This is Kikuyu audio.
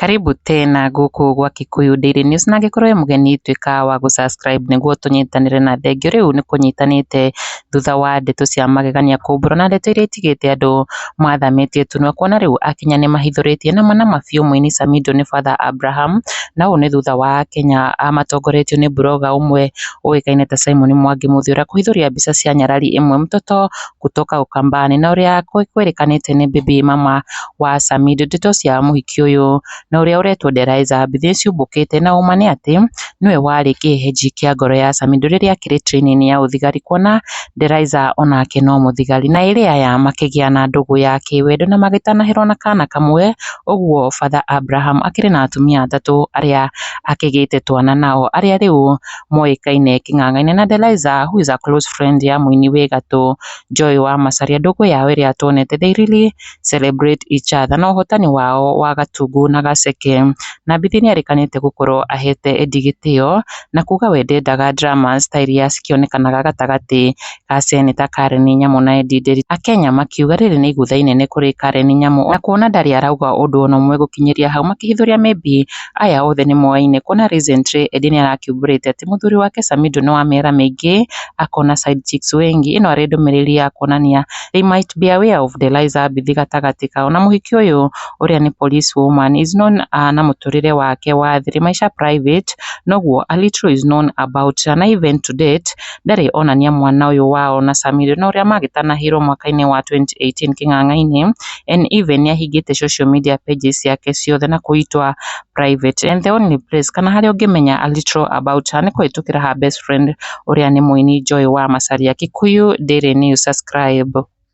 Karibu tena gũkũ gwa Kikuyu Daily News na angĩkorwo wĩ mũgeni tuĩka wa gũ subscribe nĩguo tũnyitanĩre na thengio rĩu nĩ kũnyitanĩte thutha wa ndeto cia magegania kũmbũrwo na ndeto iria itigĩte andũ mathamĩtie tu na kuona rĩu Akenya nĩ mahithũrĩtie na manama biũ mũini Samido nĩ Father Abraham na ũũ nĩ thutha wa Akenya matongoretio nĩ blogger ũmwe ũĩkaine ta Simon Mwangi Mũthiora kũhithũria mbica cia nyarari ĩmwe mtoto kutoka Ukambani na ũrĩa kwĩrĩkanĩte nĩ baby mama wa Samido. Ndeto cia mũhiki ũyũ na ũrĩa ũretwo Deraiza Mbithi nĩciumbũkĩte na ũma nĩ atĩ nĩwe warĩ kĩhehenji kĩa ngoro ya Samido rĩrĩa akĩrĩ training ya ũthigari kuona Deraiza onake no mũthigari na ĩrĩ aya makĩgĩa na ndũgũ ya kĩwendo na magĩtanahĩrwo na kana kamwe ũguo Father Abraham akĩrĩ na atumia atatũ arĩa akĩgĩte twana nao arĩa rĩu moĩkaine kĩng'ang'a-inĩ na Deliza who is a close friend ya mũini wĩ gatũ Joy wa Macharia. Ndũgũ yao ĩrĩa tuonete they really celebrate each other na ũhotani wao wa Gatungu na Gaceke. Na Bithi nĩerĩkanĩte gũkorwo ahete Eddie gĩtĩo na kuga we ndendaga dramas ta iria cikĩonekanaga gatagatĩ ga Seneta Karen Nyamu na Eddie Nderi. Akenya makiuga rĩrĩ nĩ igũtha inene kũrĩ Karen Nyamu na kuona ndarĩ arauga ũndũ ona ũmwe gũkinyĩria hau makĩhithũria maybe Aya othe nĩ moaine kuona recently Edie nĩ arakĩumbũrĩte atĩ mũthuri wake Samido nĩ wa mĩera mĩingĩ, akona side chicks wengi. Ĩno arĩ ndũmĩrĩri ya kuonania they might be aware of the lies abithi gatagatĩ kao. Na mũhiki ũyũ ũrĩa nĩ police woman is known na mũtũrĩre wake wa thiri, maisha private, noguo a little is known about na even to date ndarĩ onania mwana ũyũ wao na Samido na ũrĩa magĩtanahĩirwo mwaka-inĩ wa 2018 kĩng'ang'a-inĩ, en Eve nĩahingĩte social media pages ciake ciothe na kũitwa private en the only place kana harĩa ũngĩmenya a little about her nĩ kũhĩtũkĩra her best friend ũrĩa nĩ mũini Joy wa Macharia. Kikuyu Daily News subscribe.